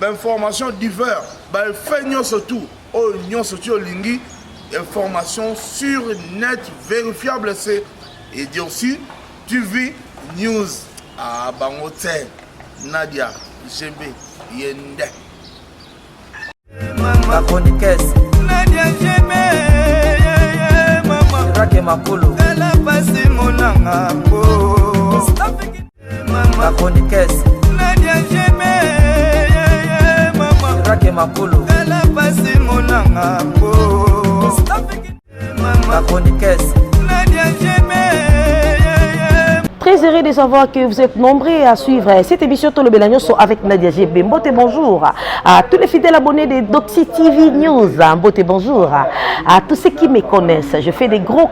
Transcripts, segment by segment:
bainformation divers baeffet nyonso tu oyo nyonso ti olingi information sur net vérifiable se edurci tv news a ah, bango te nadia gb yende la chroniqueuse nadia gb yeye mama rake makolo ela pasi monanga ba chroniqueuse nadia jeme mama rake makolo tala pasi monanga mpo ba chroniqueuse nadia jeme Très heureux de savoir que vous êtes nombreux à suivre cette émission Tolo Belanyoso avec Nadia GB. Mbote, bonjour à tous les fidèles abonnés de Doxy TV News. Mbote, bonjour à tous ceux qui me connaissent. Je fais des gros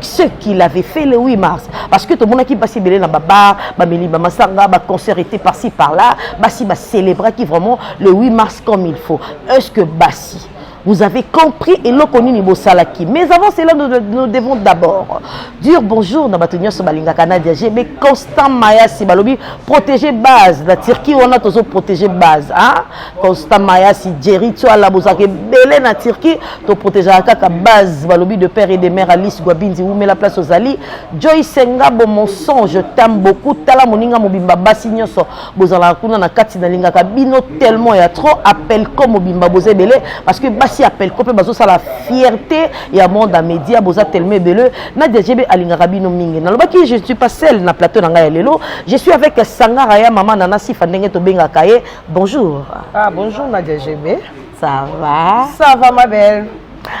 ce qu'il avait fait le 8 mars parce que tomonaki basi ebele na babar bameli bamasanga baconcert ete parci par là basi bacélébraki vraiment le 8 mars comme il faut est ce que basi vous avez compris eloko nini bosalaki mais avant cela nous, nous devons d'abord dire bonjour na bato nyonso balingaka nadia g mais constant mayasi balobi protégé base na turquie wana tozo protégé base hein? constant mayasi jerry tuala bozalaka ebele na turquie to protegeaka kaka base balobi de père et de mère alice guabinzi wumela place ozali joyce ngabo mon son je t'aime beaucoup tala moninga mobimba basi nyonso bozalaka kuna na kati nalingaka bino tellement ya trop apelco mobimba boza ebele parce que basi ya apelco mpe bazosala fierté ya monde ya média boza tellement ebele nadia jebe alingaka bino mingi nalobaki je ne suis pas seule na plateau na ngai ya lelo je suis avec sangara ya mama nana sifa ndenge tobengaka ye bonjour ah, bonjour nadia jebe ça va ça va ma belle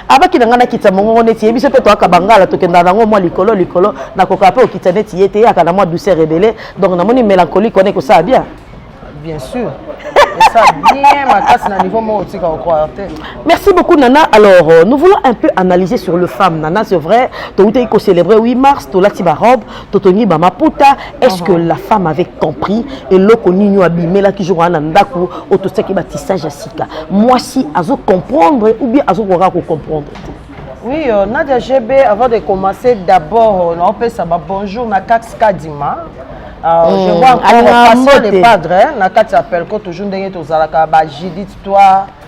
abaki na ngai nakitisa mongongo neti ye biso mpe toyaka bangala tokendaka nango mwa likolo likolo nakokaa mpe okitisa neti ye te eyaka na mwa douceur ebele donc namoni mélancolique wana ekosala bien bien sûr ça bien makasi na niveau moko otika okroire te merci beaucoup nana alors euh, nous voulons un peu analyser sur le femme nana c'est vrai toutaki kocélébrer 8 mars tolati barobe totongi ba maputa est ce que uh-huh. la femme avait compris eloko nini oyo abimelaki jour wana na ndako oyo totiaki batissage ya sika mwasi azo comprendre ou bien azokokaka kocomprendre te Oui, euh, Nadia GB, avant de commencer, d'abord, euh, on peut ça, bah, bonjour, ma Kax Kadima. Euh, mm, je vois encore, passons les padres, hein, na Kax appelle, quand toujours, on a Judith, toi,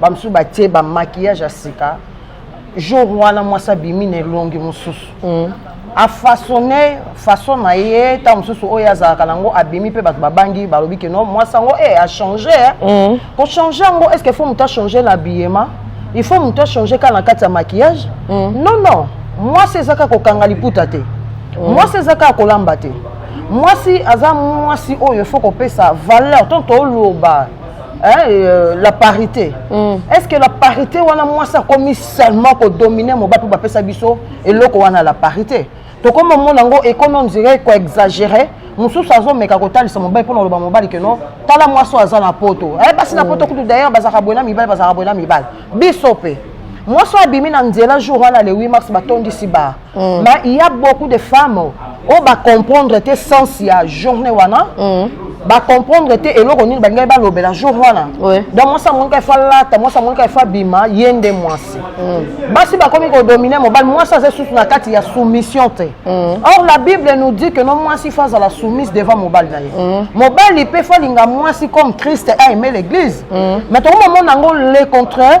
bamosusu batie bamaquillage ya sika jour wana mwasi abimi na elongi mosusu mm. afasone façon na ye ntango mosusu oyo azalaka nango abimi mpe bato babangi balobi ke no mwasi yango e eh, achange eh. mm. kochange yango est ce que faut moto achange na biyema il faut moto achange kaka na kati ya maquillage mm. non non mwasi eza kaka kokanga liputa te mm. mwasi eza kaka kolamba te mwasi aza mwasi oyo fo kopesa valeur to toloba Hein, euh, la parité mm. est ce que la parité wana mwasi akomi seulement kodomine moba mpe bapesa biso eloko wana la parité tokoma omona yango ekomi ondire koexagere mosusu azomeka kotalisa mobali mpo na koloba mobali keno tala mwasi oyo aza na poto eh, basi na mm. poto kutu d'ailleurs bazalaka boye na mibali bazalaka boye na mibali biso mpe mwasi oyo abimi na nzela jour wana le 8 mars batondisi ba Mm. Mais il y a beaucoup de femmes oyo oh, ba comprendre te sens ya journée wana. Mm. Ba comprendre te eloko nini balingai balobela jour wana. Oui. Donc mwasi amonika efa lata, mwasi amonika efa bima, ye nde mwasi. Mm. Basi bakomi kodomine mobali, mwasi aza susu na kati ya soumission te. Mm. Or la Bible nous dit que non mwasi faut azala soumise devant mobali na ye. Mm. Mobali pe faut alinga mwasi comme Christ a aimé l'église. Mm. Mais tokomona yango le contraire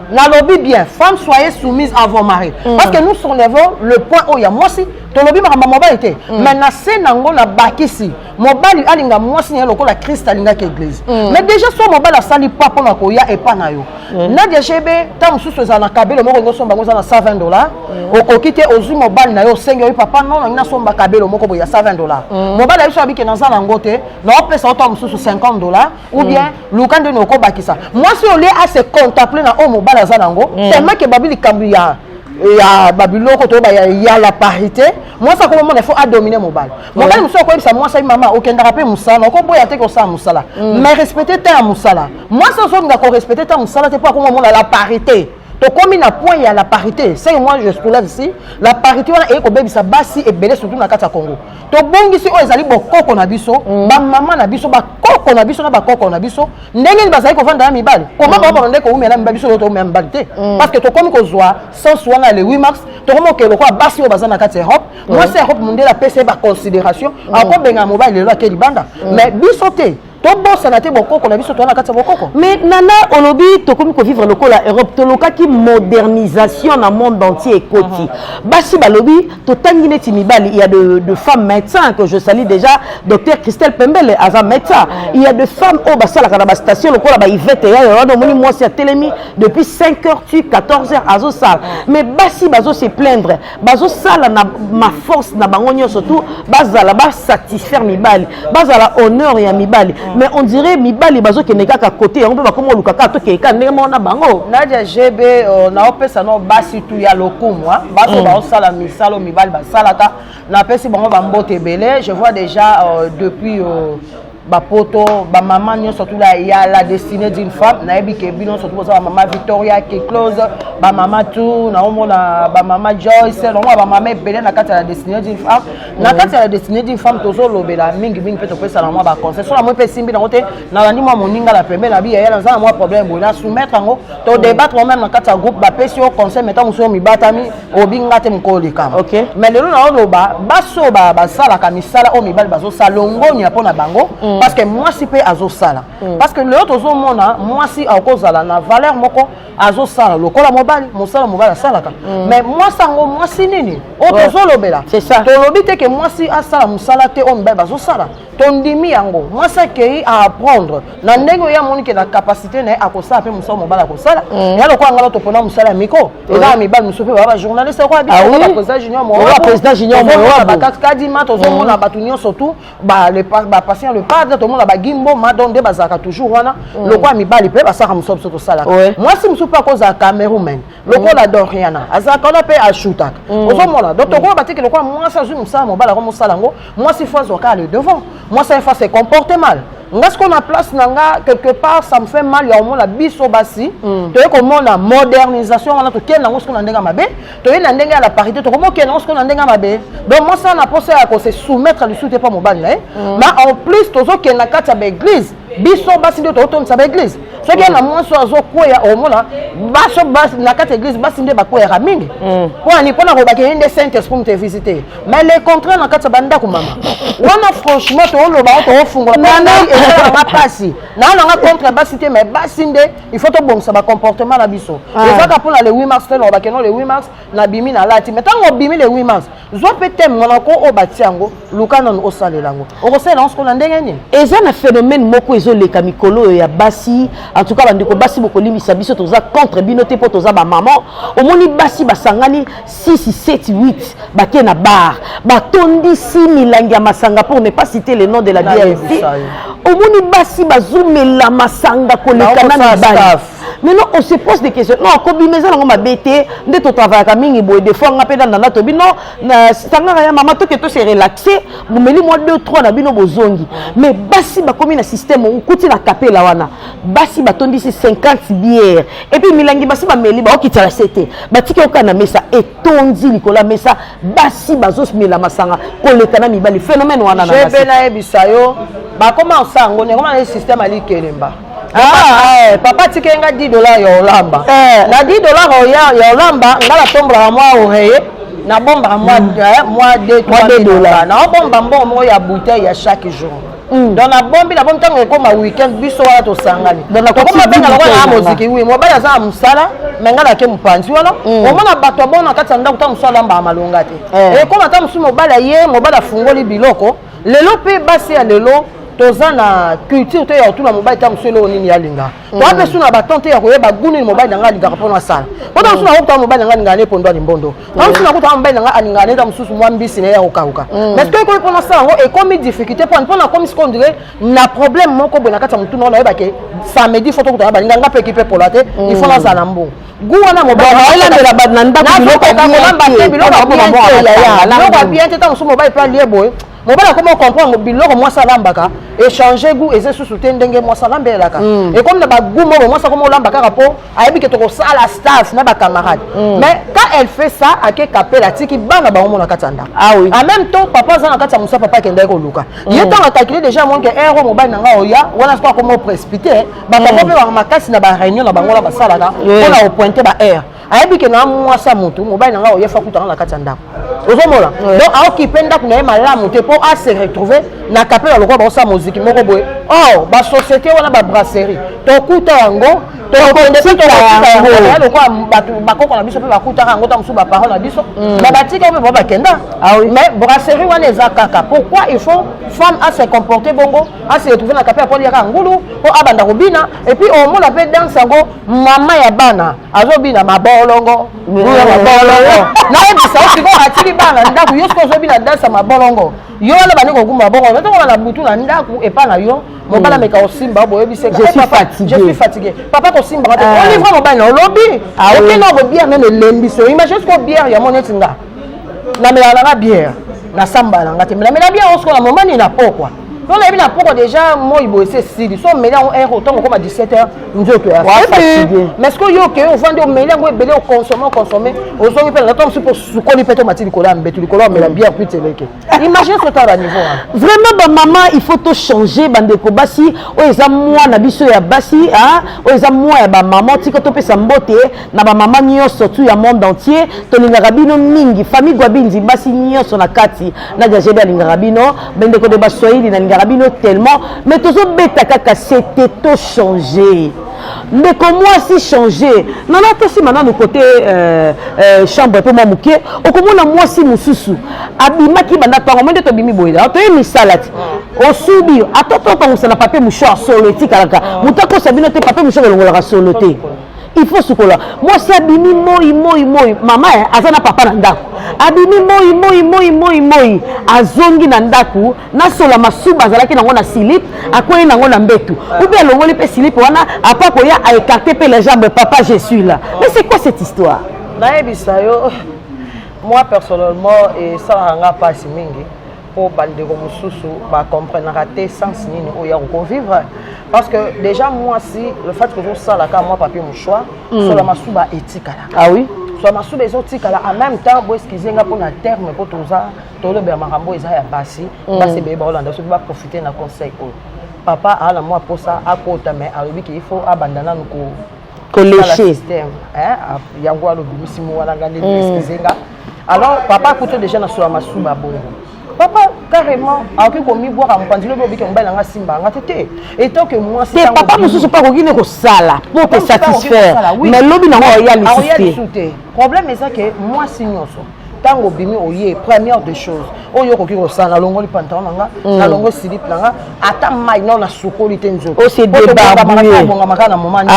nalobi bien femme soyez soumise à vos maris mm. parce que nous soulevons le point oyo ya mwasi tolobi makambo ya mobali te mm. mais na se nango nabakisi mobali alinga mwasi na ye lokola krist alingaki eglise mm. mais déjà so mobali asali pa mpo na koya epa na yo mm. nadia jebe ntango mosusu ezala na kabelo moko ngosomba yango eza na 120 dollar mm. okoki te ozwi mobali na yo osengi oyi papa non nangi nasomba kabelo moko boye ya 120 dollar mm. mobali ya biso abike naza na yango te naopesa yo ntango mosusu 50 dollar ou mm. bien mm. luka nde nokobakisa mwasi olie ase contemple na oyo mobali aza na yango mm. tellement ke babi likambo ya ya babiloko toyeba ya, ya la parité mwasi akomi omona faut adomine mobali mobali mosusu akoyebisa mwasi ayi mama okendaka mpe mosala okoboya te kosala mosala mm. mais respecte te ya mosala mwasi azolinga korespecte te ya mosala te mpo akomi omona la parité tokomi na point ya la parité ce moi je soulève ici la parité wana eye kobebisa basi ebele surtout na kati ya congo tobongisi oyo ezali bokoko na biso mm. bamama na biso bakoko na biso na bakoko na biso ndenge nini bazali kovanda na mibali koma mm. babana nde koumela mibali biso toumela mibali te mm. parce que tokomi kozwa sens wana ya le 8 mars tokomi okee lokola basi oyo baza na kati ya europe mwasi ya europe mondele apesa ye baconsidération akobengana mobali lelo ake libanda mais biso te tobosana te bokoko na biso toza na kati ya bokoko mais nana olobi tokomi kovivre lokola europe tolokaki modernisation na monde entier ekoti uh -huh. basi balobi totangi neti mibali il ya de, de femme médecin que je sali déjà docteur christelle pembele aza médecin il ya de femme oyo basalaka na bastation lokola baivete yayo wana omoni mwasi atelemi depuis 5 heures tu 14 heures azosala mais basi bazo se plaindre bazosala na maforce na bango nyonso tu bazala basatisfaire mibali bazala honneur ya mibali mm. mais on dirait mibali bazokende kaka kote yango mpe bakoma oluka kaka tokende kaka ndenge moko na bango nadia gb euh, naopesa no basi tu ya lokumu bato mm. baosala misala mibali basalaka napesi bango bambote ebele je vois déjà euh, depuis euh, bapoto bamama nyonso tula ya la destinée d'une femme nayebi ke bino nyonso tukoza bamama victoria kiclose bamama tu naomona bamama joyce naomona bamama ebele na kati ya la destinée d'une femme na kati ya la destinée d'une femme tozolobela mingimingi mpe topesana mwa baconseil so na moi mpe esimbi nango te nalandi mwa moninga na pembe na biya ye naza na mwa problème boye na soumettre yango to débattre moi meme na kati ya groupe bapesi yo conseil me ntango mosusu yo mibatami obinga te mokolo likama okay. mais lelo naoloba basi oyo basalaka misala oyo mibali bazosala longonya mpo na bango mm. parce que mwasi mpe azosala mm. parce que lelo tozomona mwasi akozala na valeur moko azosala lokola mobali mosala mobali asalaka mm. mais mwasi yango mwasi nini oyo tozolobela tolobi te ke mwasi asala mosala te oyo mibali bazosala tondimi yango mwasi akei a apprendre na ndenge oyo amoni ke na capacité na ye akosala mpe mosala mobali akosala mm. ya lokola ngana topona mosala ya miko mm. ezaka mibali mosusu mpe baa bajournaliste lokola bisakobaprésida ah junior moaprésident junior moaa bakaskadima tozomona mm. bato nyonso tout bapatient le padre tomona bagimbo madon nde bazalaka toujours wana lokola mibali mpe basalaka mosala biso tosalaka mwasi mosusu mpe akozala cameroumaine lokola doriana azalaka wana mpe ashutaka ozomona donc tokoba batiki lokola mwasi azwi mosala mobali akomosala yango mwasi fo azwa kaka le devant mwasi aye fa se comporte mal nga sikoyo na place na nga quelque part ça me fait mal ya komona biso basi mm. toye komona modernisation wana tokende yango sikoyo na ndenge ya mabe toye na ndenge ya la parité tokomi okende yango sikoyo na ndenge ya mabe donc mwasi ana mposa ya kose soumettre lisusu te mpo mobali na ye ma mm. en plus tozokende na kati ya baeglise biso basi nde tokotondisa baeglize soki ana mwasi oyo azokweya omona baso na kati ya eglize basi nde bakweyaka mingi mm. mponi mpona kolobaka ye nde saint esprit moto evisite mais le contraire na kati ya bandako mama wana franchement tooloba o toofungola ngai esalanga mpasi naa nanga contre basi te mais basi nde il faut tobongisa bacomportement na biso ah. ezaka mpona le 8 mars te nalobakeno le 8 mars nabimi nalati me ntango obimi le 8 mars zwa mpe teme wana ko oyo batia yango luka nanu osalela yango okosalela yango sikoyo na ndenge nini eza na phénomène moko ezoleka mikolo oyo ya basi en tout cas bandeko basi bokolimbisa biso toza contre bino te mpo toza bamaman omoni basi basangani 6 7 8 bake na bar batondisi milangi ya masanga pour ne pas citer le nom de la bière ici omoni basi bazomela masanga koleka na mibali mais non on se pose des questions non kobima eza nango mabe te nde totravayaka mingi boye des fois nga mpe na nana tobi non sangaka ya mama toke to se relaxe bomeli mwa 2 3 na bino bozongi mais basi bakomi na système okuti na kapela wana basi batondisi 50 bière epuis milangi basi bameli baokitala se te batiki oka na mesa etondi likolo ya mesa basi bazomela masanga koleka na mibali phénomène wana na nayebisa yo bakoma osango nekoma na système alikelemba Ah, eh, papa tika nga 10 dollars ya olamba eh. na 10 dollars ya olamba nga natombolaka mwa oreye nabombaka mwa 2 hmm. dollars naobomba mbongo moko ya bouteille ya chaque jour hmm. donc nabombi nabombi ntango ekoma weekend biso wana tosangani okoma benga lokola na moziki wi mobali aza na mosala me ngai nake mopanzi wana hmm. omona bato abona kati ya ndako ntango mosusu alambaka malonga te eh. ekoma ntango mosusu mobali aye mobali afungoli biloko lelo mpe basi ya lelo toza na culture te ya kotuna mobali ntango mosusu eloko nini alinga mm. toa mpe su na baton te ya koyeba gu nini mobali na ngai alingaka mpo nasala po ntango mosusu nakokutaka mobali na ngai alingaka ne pondo ya limbondo ntango mosusu nakokutaka mobali na ngai alingaka ne ta mosusu mwa mbisi na ye ya kokauka mm. mais soki ekomi mpo nasala yango ekomi difficulté mpo mpo nakomi siko ondire na problème moko boye na kati ya motuna oyo nayebake samedi fo tokutana balinga ngai mpe ekipe pola te il faut mm. nazala na mbongo gout wana mobali olandela bato na ndako biloko ya bien te ntango mosusu mobali mpe alie boye mobali akoma comprendre biloko mwasi alambaka échange goût eza susu te ndenge mwasi alambelaka mm. ekomi na bagout moko mwasi akoma olamba kaka mpo ayebi ke tokosala staff na bacamarade mm. mais quand elle fait ça ake kapela atiki bana bango mona kati ya ndako ah en même temps papa aza na kati ya mosa papa akendaki koluka mm. ye ntango akalkile déjà monke ero mobali na ngai oya wana soko akoma oprecipite babango hmm. mpe baka makasi na bareunion na bango na basalaka mpo na opointe baheure ayebi ke na mwasi ya motu mobali na ngai oye fa kutanga na kati ya ndako ozomona donc aokipe ndako na ye malamu te mpo ase retrouve na kapela lokola baosala moziki moko boye or oh, basociété wana babrasserie tokuta yango lokola bato bakoko na biso mpe bakutaka yango ntango mosusu baparole na biso na hmm. batika mpe bao bakenda ah mais brasserie wana eza kaka pourquoi il faut femme a se comporter bongo asi retrouve na kape aponi yaka ngulu po abanda kobina epuis omona mpe danse yango mama ya bana azobina mabolongo ya mabolongo nayebisa yo sikoyo atili bana na ndako yo sikoyo ozobina danse ya mabolongo yo wana bandi kokumba mabolongo natongola na butu na ndako epa na yo mobala meka osimba boyebiseka je suis fatigué papa kosimbaka te olivre mobali na olobi okenda ko bière meme elembisi imagine sikoyo bière yango neti nga namelaka nanga bière nasambala nga te melamela bière osikoyo na momani na pokwa mpo nayebi na pokwa deja moi boye se esili so omeli yango heure otango okoma 17 heure nzoto ya fatigue mais sikoyo yo okei ovandi omeli yango ebele oconsomme oconsomme ozongi mpe nata mosusu mpo osukoli mpe to mati likolo ya mbetu likolo omela mm. bière kuiti eleke imagine sota ba niveau wana vraiment bamama il faut tochanger bandeko basi oyo eza mwa na biso ya basi oyo eza mwa ya bamama tika topesa mbote na bamama nyonso tu ya monde entier tolingaka bino mingi famille gwabinzi basi nyonso na kati Nadia Jebe alingaka bino mais ndeko de baswahili nalingaka bino tellement mais tozobeta kaka sete to changer ndeko mwasi changer nana tosima nanu kote euh, euh, chambre mpe mwa moke okomona mwasi mosusu abimaki banda ntango mo nde tobimi boye ah, toye misala ti ah. osubi ata tokangusana papier mouchoir solo etikalaka ah. moto akosa bino te papier mouchoir elongolaka solo te il faut sukola mwasi abimi moi moi moi mama eh, aza na papa na ndako abimi moi moi moi moi moi azongi na ndako nasola masuba azalaki nango na silip akwei nango na mbetu ubi alongoli mpe silip wana apa koya aekarte mpe la jambe papa je suis là mais c'est quoi cette histoire nayebisa yo moi personnellement esalaka nga mpasi mingi mpo bandeko mosusu bacomprenaka te sens nini oyo ya kokovivre parce que déjà mwasi le fait que ozosala kaka mwa papier mouchoir mm. sola masuba etikala ah oui sola masuba ezotikala en même temps boeskize nga mpona terme mpo toza tolobela makambo eza ya basi mm. basi ebeye baolanda soki baprofite na conseil oyo papa aala mwa mposa akota mais alobi ke il faut abanda nanu ko koleshe yango wana obimisi mowana nga nde mm. excuse nga alors papa akuti déjà na sola masuba bongo papa carrément akoki komibwaka mopanzi lobi obike mobali nanga asimba yanga te te etanke mwasi te papa mosusu mpe akoki ne kosala mpo te satisfaire mais lobi nango aoya lisusu te problème eza ke mwasi nyonso ntango obimi oye première des choses oyo okoki kosala nalongoli pantalon na nga mm. nalongoli silipe na nga ata mai nao nasukoli te nzotoobongamaka oh, na momaobongami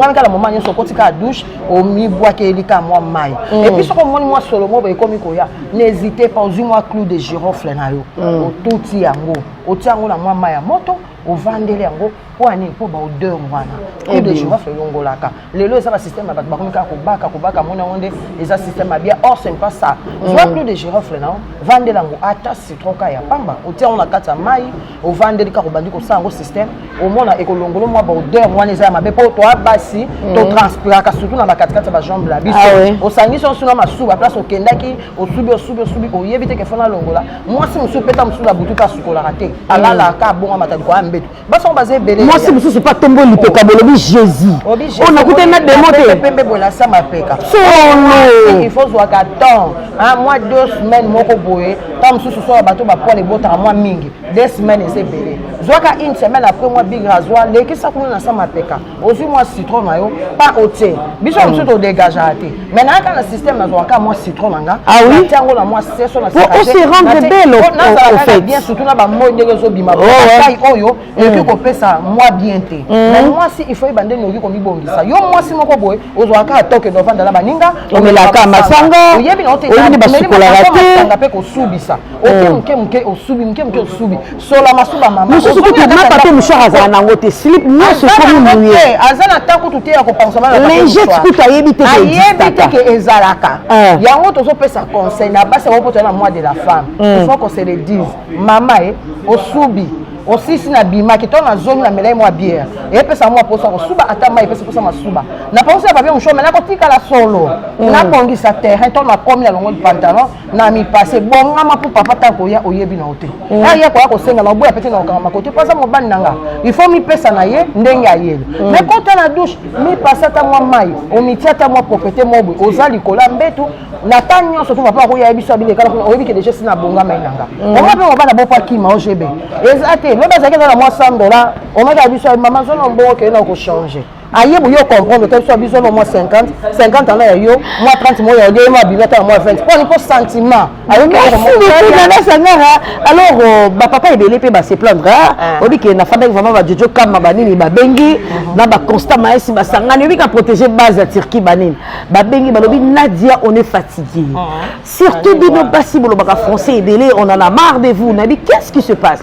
ah kaka na moma nyonso okoti kaka douche omibwakeli kaka mwa mai mm. epuis soki omoni mwa solo mobo ekomi koya n'hésite pas ozwi mwa clou de girofle na yo mm. otuti yango otia yango na mwa mai ya moto ovandeli yango mpo ya nini mpo baodeur wana coup de girofle elongolaka lelo eza basystème ya bato bakomi kaka kobaka kobaka mona yango nde eza système ya bien or sempa sa zwa coup de girofle nao vandela yango ata citron ka ya pamba otia yango na kati ya mai ovandeli kaka obandi kosala yango système omona ekolongolo mwa baodeur wana eza ya mabe mpo toa basi totranspiraka surtout na bakatikati ya bajambe na biso osangisi osu na masuba place okendaki osubi osubi osubi oyebi te kefona longola mwasi mosusu peta mosusu na butu mpe asukolaka te alalaka abonga mataliko ya mbeto basango baza ebele mwasi mosusu mpe atomboli lipeka oh. bolobi jésus oyo oh, nakutani na demo te pembe bolasa mapeka solo ifo ozwaka temps mwa deux semaine moko boye ntango mosusu soya bato bapoil ebotaka mwa mingi deux semaine eza ebele zwaka une semaine après mwa bigra azwa lekisa kuna na sa mapeka ozwi mwa citron na yo pa otie biso ya mosusu todegageaka te mai nayaka na système nazwaka mwa citron na nga natia yango na mwa seso nasekazalaka bien surtout na bamoi ndenge ezobima batai oyo ekoki kopesa mwa bien te mai mwasi il faut yeba ndenge okoki komibongisa yo mwasi moko boye ozwaka atoke novanda na baninga omelaka masanga oyebi na oteomeli masanga mpe kosubisa oke oh. moke moke osubi moke moke osubi sola masuba mama mosusu kutu mapa mpe mouchard azala na yango te slip nyonso ekomi moye aza na ntango kutu te ya kopangusa lingete kutu ayebi te ayebi te ke ezalaka eh. yango tozopesa conseil na basi yango mpo toya na mois de la femme hmm. il faut qu'on se le dise mama e osubi osisi na bimaki to na zongi na melai mwa biere epesa mwa mposa kosuba ata mai epesa mposa masuba na pangosi ya papie mosho me nakotikala solo hmm. nabongisa terrain to nakomi na longo lipantalon na mipase bongama mpo papa ta koya oyebi na yo te mm. aya koya kosenga na oboya pete na kokangama kote mpo aza mobali na nga il faut mipesa na ye ndenge ayeli mm. me kota na douche mipasa ta mwa mai omitia ta mwa proprete mobwe oza likolo ya mbetu na ta nyonso to papa akoya yebiso abini ekala kuna oyebi ke deja si na bongamai na nga mm. onga mpe mobali aboko akima ogb eza te lobi azalaki eza na mwa 100 dollar omaki ya biso mama zona mbongo okende na kochange aye boye ocomprendre te biso ya biso no mwa 50 50 ana ya yo mwa 30 moya ya yo mwa bino ta mwa 20 mponi mpo sentiment ayokiaasangara alors euh, bapapa ebele mpe base plaindre ah. obike nafandaki vraimen bajojo kama banini babengi mhm. na baconstat maesi basangani obika protege base ya turquie banini babengi balobi nadia on est fatigue mhm. surtout bino basi bolobaka français ebele on en a marre de vous nayebi qu'est ce qui se passe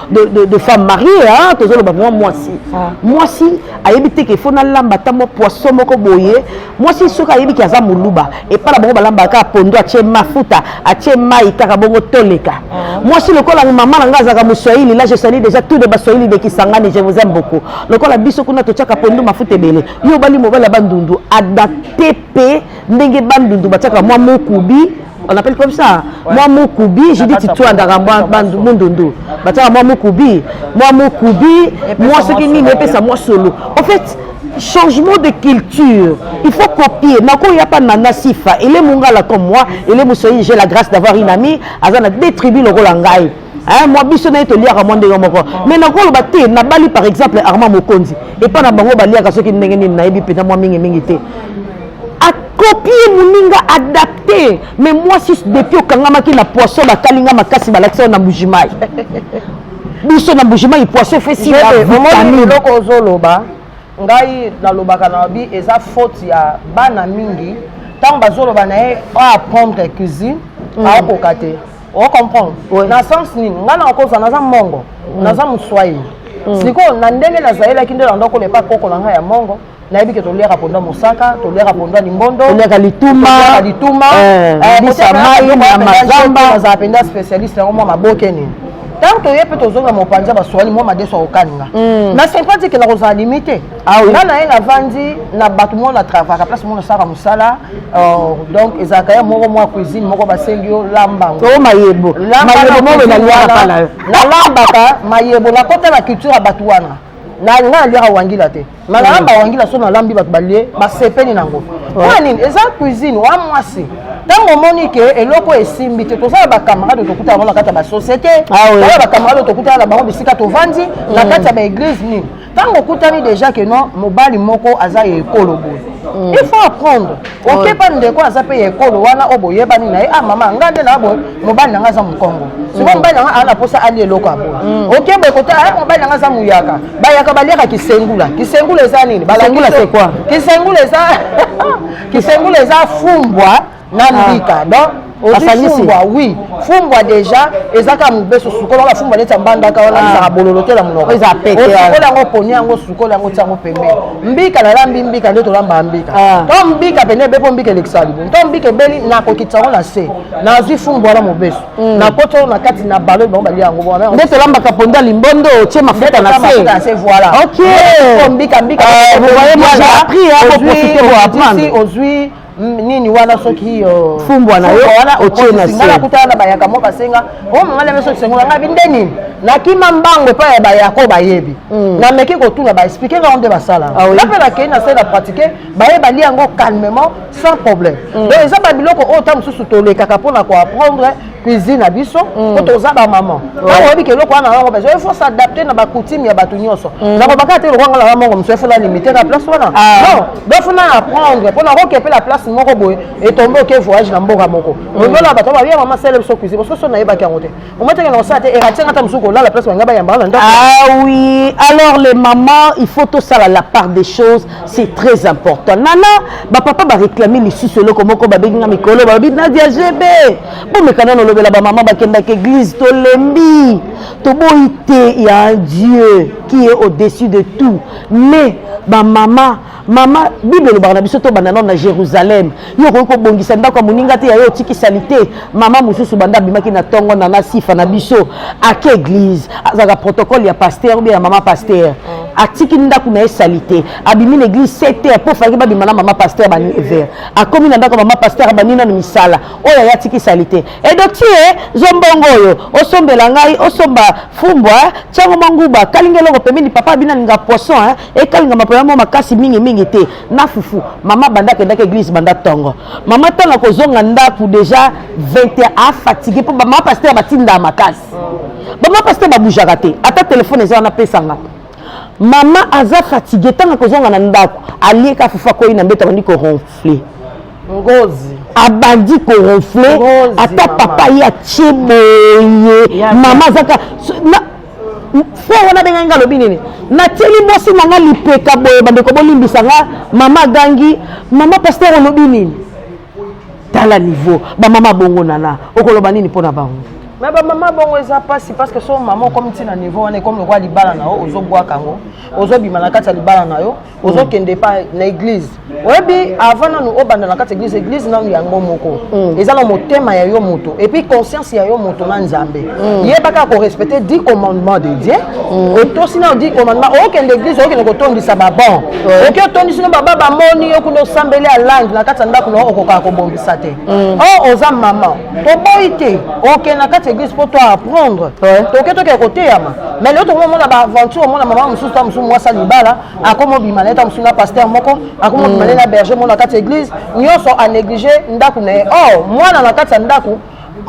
de, de, de femme mariée hein, tozoloba mwa mwasi ah. mwasi ayebi te ke fo nalamba ata mwa poisson moko boye mwasi soki ayebi ke aza moluba epai na bango balambaka kaka pondo atie mafuta atie mai kaka bongo toleka ah. mwasi lokola mama na ngai azalaka moswahili la je sali déjà tout de baswahili de kisangani je vous aime beaucoup lokola biso kuna totiaka pondo mafuta ebele yo obali mobali ya bandundu adapte mpe ndenge bandundu batiaka mwa mokubi on appelle comme ça ouais. mwa mukubi je dis titwandaka mwa mundundu batiaka mwa mukubi mwa mukubi mwa soki nini epesa mwa solo en fait changement de culture il faut copier nako ya pa nana sifa ele mungala comme moi ele mosoyi j'ai la grâce d'avoir une amie aza na deux tribus lokola ngai Eh, mwa biso naye toliaka mwa ndenge moko mais nakoloba te nabali par exemple armand mokonzi epai na bango baliaka soki ndenge nini nayebi mpenza mwa mingimingi te akopie moninga adapte mais mwasi depuis okangamaki na poisson bakalinga makasi balakisa yo na mujimai biso na mujimai poisson efesi eloko ozoloba ngai nalobaka na babi eza faute ya bana mingi ntango bazoloba na ye oapprendre cuisine mm. aokoka te o comprendre oui. na sens nini ngai nakokosa naza mongo mm. naza moswahili mm. sikoyo na ndenge nazalelaki nde nando kola epai koko na ngai ya mongo nayebi ke toliaka mponda mosaka toliaka mponda limbondo toliaka lituma lituma eh, eh, bisa mai na mazamba nazala mpenza spécialiste yango mwa maboke nini ntango toye mpe tozonga mopanzi ya baswali mwa madeso akokaninga na sympathie ke nakozala limite Ah nga na ye navandi na bato moko na travaka place moko nasalaka mosala euh, donc ezalaka ye moko mwa cuisine moko basengi yo lambango oh, mayebo nalambaka mayebo nakota na culture ya bato wana nga naliaka wangila te ma nalamba mm. wangila so nalambi bato balie basepeli nango mpo nini eza cuisine wa mwasi ntango omoni ke eloko esimbi te toza na bacamarade tokutana bango na kati ya basociété ah toza na bacamarade tokutana na bango bisika tovandi na mm. kati ya baeglise nini ntango okutani déjà que non mobali moko aza ya ekolo boye mm. il faut apprendre okeba ndeko aza mpe ya ekolo wana oyo boyebani na ye ah mama ngai nde na boye mobali na ngai aza mokongo sikoyo mm. mobali na ngai aza na mposa alia eloko ya boye mm. okeba ekota ah, mobali na ngai aza moyaka bayaka baliaka kisengula kisengula eza nini kisengula eza kisengula eza fumbwa na mbika donc ozifumbwa oui fumbwa deja ezaka mobesu sukola wana fumbwa neti ambandaka wana ezaka bololo te na monoko osukola yango poni yango sukola yango ti yango pembeni mbika nalambi mbika nde tolambaka mbika to mbika pene ebe mpo mbika elekisa libo to mbika ebeli nakokitisa yango na se nazwi fumbwa wana mobesu nakoti yango na kati na balo bango balia yango wana nde tolambaka pondu ya limbondo otie mafuta na se voilà ok mbika mbika ozwi nini wana soki euh, fumbwa na yo otie na se nakutana na bayaka moko basenga o oh, mama leme soki sengola ngai bi nde nini nakima mbango epai ya bayaka oyo bayebi hmm. nameki kotuna baexplike ngango nde basala ah nga mpe nakei na se na pratike baye balia yango calmement sans problème hmm. donc eza babiloko oyo ta mosusu tolekaka mpo na koapprendre cuisine na biso mm. po toza bamama ntango oyebi ke eloko wana nango bezo il faut s'adapte na bacoutume ya bato nyonso mm. nakobaka te lokwanga nanga mongo mosusu efo na limite na place wana ah. non bafo na apprendre mpo nakokepe la place moko boye etombe oke voyage na mboka moko mm. oyola bato babia mama sele biso cuisine parce que so nayebaki yango te omateke na kosala te eratianga ata mosusu kolala place banga bayamba na ndako ah oui alors les mamans il faut tosala la part des choses c'est très important nana bapapa bareklame lisusu eloko moko babengi nga mikolo balobi nadia gb bomekana nolobela bamama bakendaka église tolembi toboyi te ya un dieu qui est au-dessus de tout mais bamama mama bible elobaka na biso tobanda nano na jérusalem yo okoki kobongisa ndako ya moninga te yayo otiki salite mama mosusu banda abimaki na ntongo na na sifa na biso ake eglise azalaka protocole ya paster obe ya mama paster atiki ndako na ye salite abimi na eglise 7 heure mpo falaki babima na mama paster ba 9 heure akomi na ndako ya mama paster abandi nano misala oyo aye atiki salite edotie zombongo oyo osombela ngai osomba fumbwa tiango mwa nguba kalinga eloko pembeni papa abinalinga poisson ekalingama mpo ya mwa makasi mingimingi te na fufu mama banda akendaki eglise banda tongo mama ntango akozonga ndako deja 21 afatigue mpo bamama pasteur batindaka makasi bamama pasteur babujaka te ata telefone eza wana pesanga mama aza fatigue ntango akozonga na ndako alieka fufu akwei na mbeto abandi koronfle ngozi abandi koronfle ata papa ye atie boye mama azaka frère wana abengai nga alobi nini natieli mwasi na nga lipeka boye bandeko bolimbisa nga mama agangi mama paster olobi nini tala niveau bamama bongo nana okoloba nini mpo na bango me bamama bongo eza mpasi parce que so mama okomi ntina niveau wana ekomi lokola libala na yo ozobwaka yango ozobima na kati ya libala na yo ozokende mm. epai na eglize oyebi avant nanu obanda na kati eglize eglize nanu yango moko mm. eza na motema ya yo moto epuis conscience ya yo moto na nzambe mm. yebaka korespecte di commandement de dieu otosi nano di commandement okende eglize okende kotondisa babon oki otondisi no baba bamoni yo kuna osambeli alandi na kati ya ndako na okokaka kobongisa te o oh, oza mama toboyi te okende na kati ya eglise mpo to apprendre toke tokee koteyama mais leo tokomi omona baaventure omona mama mosusu ta mosusu mwasi alibala akomi obima na ye ta mosusu na paster moko akomi obima na ye na berger moko na kati ya eglise nyonso anéglige ndako na ye or mwana na kati ya ndako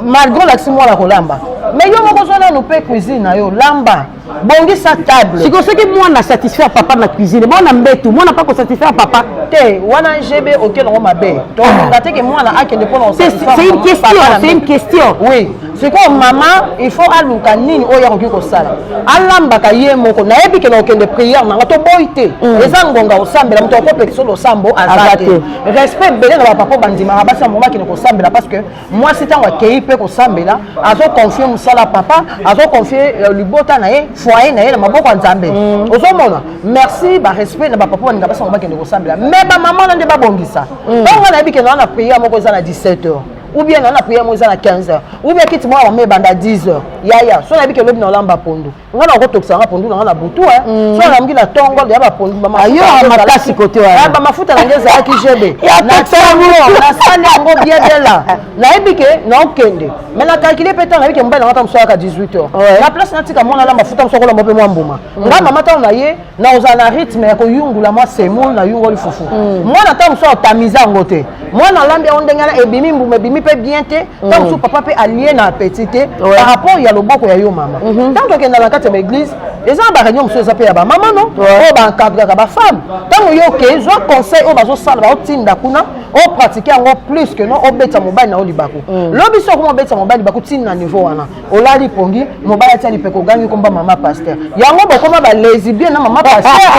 malgré olakisi mwana kolamba mais yo moko ozwa nanu mpe cuisine na yo lamba bongisa table sikoyo soki mwana satisfaire papa na cuisine mwana mbetu mwana pa kosatisfaire papa te wana ngb oke nango mabe tolinga te ke mwana akende mpo na c'est une question c'est une question oui sikoyo mama il faut aluka nini oyo akoki kosala alambaka ye moko nayebi ke na okende priere nanga toboyi te mm. eza ngonga osambela moto akopekisa losambo aza te respect ebele na bapapa bandimaka basi ya moko bakende kosambela parce que mwasi ntango akei mpe kosambela azoconfie mosala ya papa azoconfie euh, libota na ye foye na ye na maboko ya nzambe mm. ozomona merci barespect na bapapa baninga basango bakende kosambela me bamama na nde babongisa mm. ntango ngai nayebi kende wana na priere moko eza na 17 heures ou bien na na priere moko eza na 15 heures ou bien kiti mwa mama ebanda 10 heures yaya so nayebi ke lobi na olamba pondu nga na kotokisa nga pondu na nga na butu eh. mm. so namuki na tongo ya bapondu bamafuta kote ah, bamafuta na nge ezalaki jebe na tongo nasali yango bien bien la nayebi ke naokende mai na calcule mpe ntango nayebi ke mobali na nga ta mosalaka 18 heures na place natika mwana na mafuta mosakolamba mpe mwa mbuma mm. nga mama ntango na ye nakozala na rythme ya koyungula mwa semoule na yungoli fufu mm. mwana ntango mosusu atamisa yango te mwana alambi yango ndenge wana ebimi mbuma ebimi mpe bien te mm. ntango mosusu papa mpe alie na apeti te par rapport ya loboko ya yo mama mm-hmm. ntango tokenda na kati ya baeglise eza na bareunion mosusu eza mpe ya bamama no oyo baencadraka bafemme ntango yo oke zwa conseil oyo bazosala baotinda kuna opratike yango plus que no obetisa mobali na yo libaku mm. lobi so okoma obetisa mobali libaku ntina na niveau wana olali pongi mobali atia lipeka ogangi komba mama pasteur yango bokoma balesibien na mama pasteur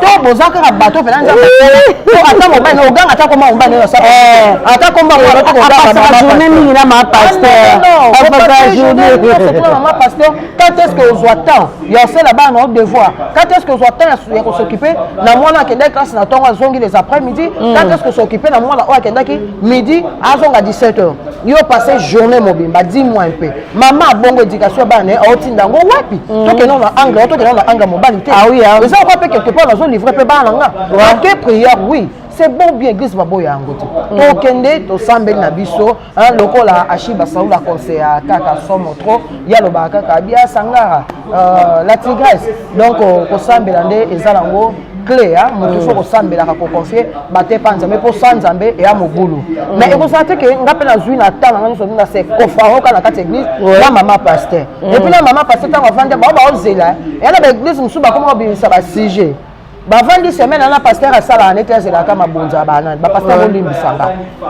to boza kaka bato mpena nzambe to ata mobali na oganga ata koma mobali na sala ata komba journée mingi na mama pasteur mama pasteur quand est ce que ozwa temps ya osala bana na devoir quand est ce que ozwa temps ya kosokipe na mwana akendaki classe na ntongo azongi les après midi quand est ce que osokipe na mwana oyo akendaki midi azonga 17 heures yo passe journée mobimba dis moi un peu mama abongo éducation ya bana na ye aotinda yango wapi mm. tokende na angle o tokende na angle mobali te ah ah eza okwa mpe quelque part nazo livre mpe bana nga ake prière oui c'est bon bien église baboya yango te mm. tokende tosambeli na biso lokola ashiba saul aconseille ya kaka somo trop ye alobaka kaka bia sangara euh, la tigresse donc euh, kosambela nde eza nango cle ya moto mm. ifo kosambelaka koconfie batepa nzambe mpo sa nzambe eya mobulu mm. mais ekozala te ke nga mpe nazwi na temps na nga nyonso na se kofaroka na kati ya église na mama paster mm. epuis na mama paster ntango avandi bango baozela eya na baeglise mosusu bakoma kobimisa basujet bavandi semaine ana paster asalaka neti azelaka mabonza ya banani bapaster bolimbisanga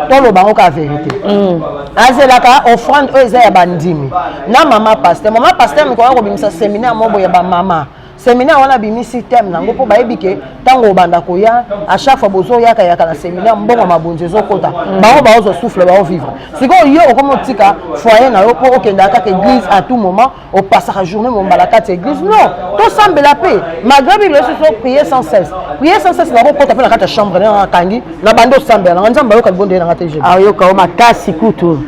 toloba yango ka verité mm. azelaka offrande oyo eza ya bandimi na mama paster mama paster mikoya kobimisa seminaire moko ya bamama seminaire wana abimisi teme nango mpo bayebi ke ntango obanda koya a chaque fois bozoyaka yaka na seminaire mbongo mabonzi ezokota mm. bango baozwa souffle baovivre sikoyo yo okomi otika foyer na yo mpo okendaka kaka église à tout moment opasaka journée mombala kati ya église non tosambela mpe malgré biblia soso prier sans cesse prier sans cesse nakokota mpe na kati ya chambre na nakangi na bandi osambela nanga nzambe ayoka libondeli nanga te ayoka yo makasi kutu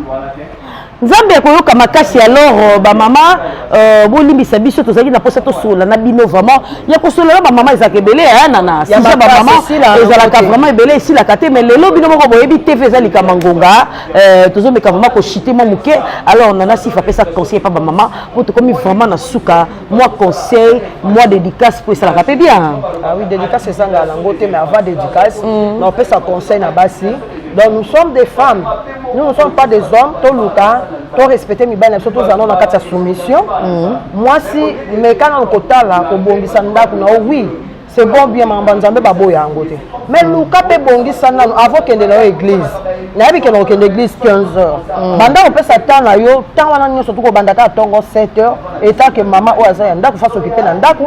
nzambe akoyoka makasi alors euh, bamama euh, bolimbisa biso tozalaki na mposa tosolola na bino vraiment ya kosolola bamama ezalaka ebele ya nana sisa bamama ezalaka vraiment ebele esilaka te mais lelo bino moko boyebi tv eza likama ngonga euh, tozomeka vraiment koshite mwa moke alors nana sifa apesa conseil epa bamama mpo tokomi vraiment na suka mwa conseil mwa dédicace mpo esalaka mpe bien ah oui dédicace ezangaka nango te mais avant dédicace mm. na opesa conseil na basi donc nous sommes des femmes nous ne sommes pas des hommes toluka torespecte mibali na biso tozala nao na kati ya soumission mm. mwasi meka nano kotala kobongisa ndako na yo oui c'est bon bien makambo ya nzambe baboya yango te mais luka mpe bongisa nano avant okende na yo église nayebi kende kokende église 15 heures mm. banda kopesa temps na yo temps wana nyonso tokobanda kaka ntongo 7 heures etake mama oyo aza ya ndako fasi okipe na ndako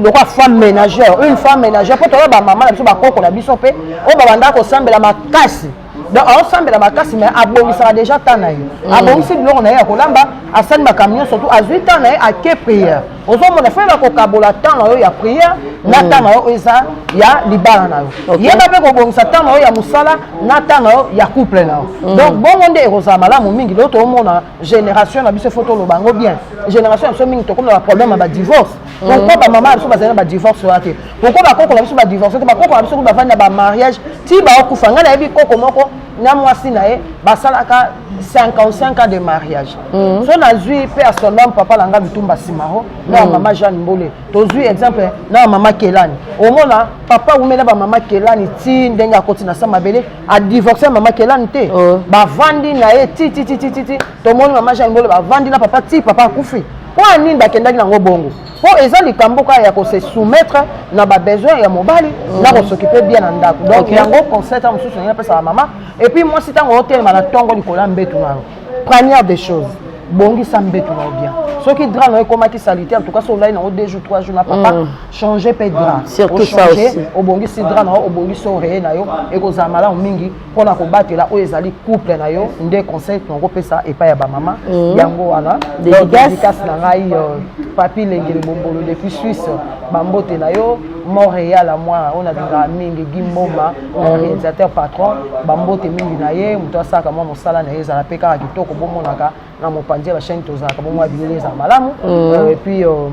lokola femme ménagère une femme ménagère mpo toyeba bamama na biso bakoko na biso mpe oyo babanda kosambela makasi donc aosambela makasi mai abongisaka déjà temps na ye mm. abongisi biloko na ye ya kolamba asali makambo nyonso tu azwi temps na ye ake prière ozomona fo yeba kokabola temps na yo ya prière na mm. temps na yo eza ya libala na yo yeba mpe kobongisa temps na yo ya mosala na temps na yo ya couple na yo mm. donc bongo nde ekozala malamu mingi lelo toomona génération na biso fo toloba yango bien génération na biso mingi tokomona baproblème ya badivorce pourquoi bamama na biso bazali na badivorce wana te pourquoi bakoko na biso badivorce te bakoko na biso kutu bafandi na bamariage ti baokufa ngai nayebi koko moko na mwasi na ye basalaka 55 ans de mariage mm. so nazwi mpe ya solom papa na ngai bitumba simaro na ya mm. mama jeanne mbole tozwi exemple na ya mama kelani omona papa wumela bamama kelani ti ndenge akoti na sa mabele adivorce ya mama kelani te oh. bavandi na ye tititititi tomoni mama jeanne mbole bavandi na papa ti papa akufi Mpo ya nini bakendaki nango bongo? Mpo eza likambo kaka ya kose soumettre na ba besoin ya mobali mm. na kosokipe bien na ndako donc okay. yango conseil ntango mosusu ndenge napesaka mama epuis mwasi ntango otelema na ntongo likolo ya mbetu na yo première des choses bongisa mbetu na yo bien soki dra na yo ekomaki salite en tout cas so olai nango deux jours trois jours na papa mm. change mpe dra surtout ça aussi obongisi dra na yo obongisi oreye na yo ekozala malamu mingi mpo na kobatela oyo ezali couple na yo nde conseil tokopesa epai ya bamama mm. yango wana dedikasi na ngai euh, papi lengele bombolo depuis suisse bambote na yo montréal amwana oyo nalingaka mingi gimboma mm. organisateur patron bambote mingi na ye moto asalaka mwa mosala na ye ezala mpe kaka kitoko bomonaka na mopanzi ya bachaine tozalaka bomwa bilele ezala malamu mm. euh, epuis euh,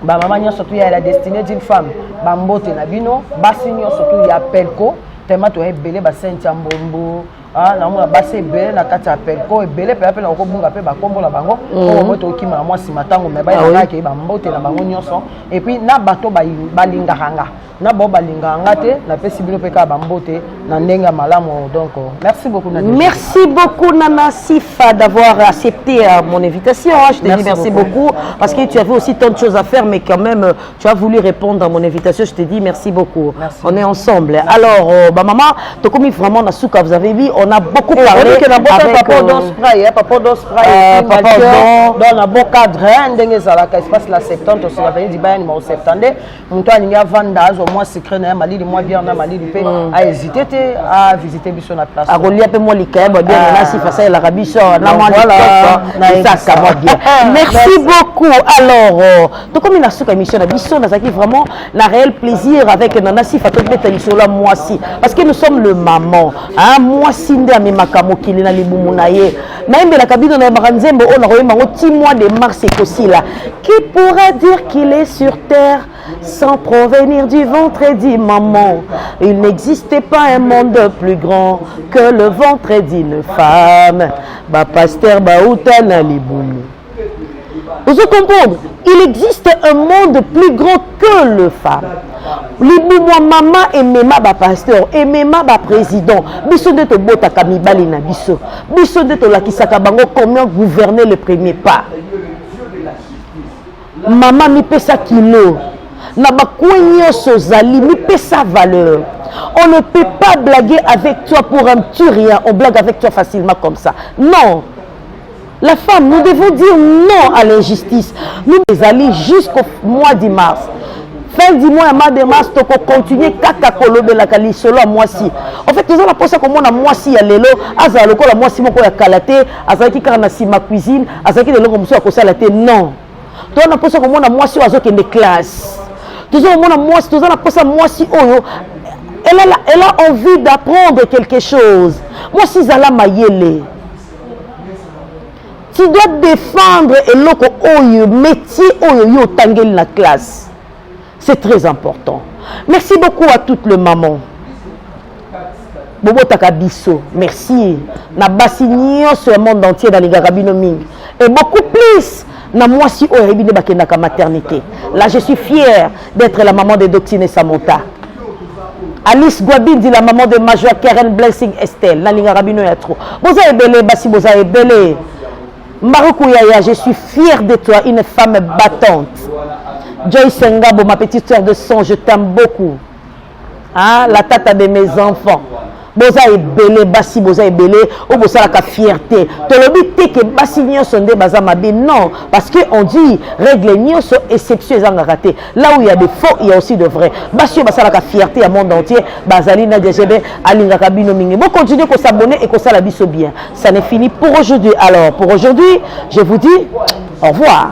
bamama nyonso tu ya la destinée d'une femme bambote na bino basi nyonso tu ya pelco tellement toya ebele basainte ya mbombo ah, namona basi ebele na kati ya pelco ebele mpenza mpe nakokobunga mpe bakombo na bango oyo moi tokima na mwasi matango me bayebakaki bambote na bango nyonso epuis na bato balingaka nga na bao balingaka nga te napesi bino mpe kaka bambote na ndenge ya malamu donc merci beaucoup na merci beaucoup nana sifa d'avoir accepté euh, mon invitation hein, je te merci dis merci beaucoup. beaucoup parce que tu avais aussi tant de choses à faire mais quand même euh, tu as voulu répondre à mon invitation je te dis merci beaucoup merci. on est ensemble merci. alors euh, bah maman tokomi vraiment na suka vous avez vu on a beaucoup Et parlé avec euh, papa odon spray hein, papa odon spray euh, papa odon dans un beau cadre hein, ndenge ezalaka espace la septante osika veni dibayani ma oseptande moto alingi avanda azwa mwa secret na ye malili mwa biere na malili mpe mm. ahésite te avisite biso na place akolia mpe mwa likayabo ya biere na sifa asalelaka biso na mwaesaka mwa biere merci beaucoup alors euh, tokomi na suka émission na biso nazalaki vraiment na réel plaisir avec nana sifa tobeta lisolo ya mwasi parce que nous sommes le maman mwasi nde amemaka mokili na libumu na ye nayembelaka bino nayembaka nzembo oyo nakoyemba yango ti mois de mars ekosila qui pourra dire qu'il est sur terre sans provenir du ventre et du maman il n'existe pas un monde plus grand que le ventre d'une femme bapasteur bauta na libumu ozo comprendre il existe un monde plus grand que le femme libumwa mama emema bapasteur emema baprésident biso nde tobotaka mibali na biso biso nde tolakisaka bango comment gouverner le premier pas mama mipesa kilo na bakwe nyonso ozali mipesa valeur on ne peut pas blaguer avec toi pour un petit rien on blague avec toi facilement comme ça non La femme, nous devons dire non à l'injustice. Nous allons jusqu'au mois de mars. fin du mois ya mois de mars tokocontinue kaka kolobelaka lisolo ya mwasi en fait toza na mposa komona mwasi ya lelo azala lokola mwasi moko ya kala te azalaki kaka na nsima cuisine azalaki na eloko mosusu ya kosala te non toza na mposa komona mwasi oyo azokende classe toza komona mwasi toza na mposa mwasi oyo elle a, elle a envie d'apprendre quelque chose mwasi zala mayele tu dois défendre eloko oyo métier oyo yo otangeli na classe c'est très important merci beaucoup à toutes les mamans bobotaka biso merci na basi nyonso ya monde entier nalingaka bino mingi et beaucoup plus na mwasi oyo ayebi nde bakendaka maternité là je suis fière d'être la maman de doctine samota alice guabindi la maman de major karen blessing estelle nalingaka bino ya trop boza ebele basi boza ebele maruku yaya je suis fière de toi une femme battante joyce ngabo ma petite sœur de sang je t'aime beaucoup ah, la tata de mes enfants boza ebele basi boza ebele oyo bosalaka fierté tolobi te ke basi nyonso nde baza mabe non parce que on dit règle nyonso exception ezangaka te là où il y a de faux il y a aussi de vrai basi oyo basalaka fierté ya monde entier bazali na djb alingaka bino mingi bo continuer kosabonne et kosala biso bien ça n'est fini pour aujourd'hui alors pour aujourd'hui je vous dis au revoir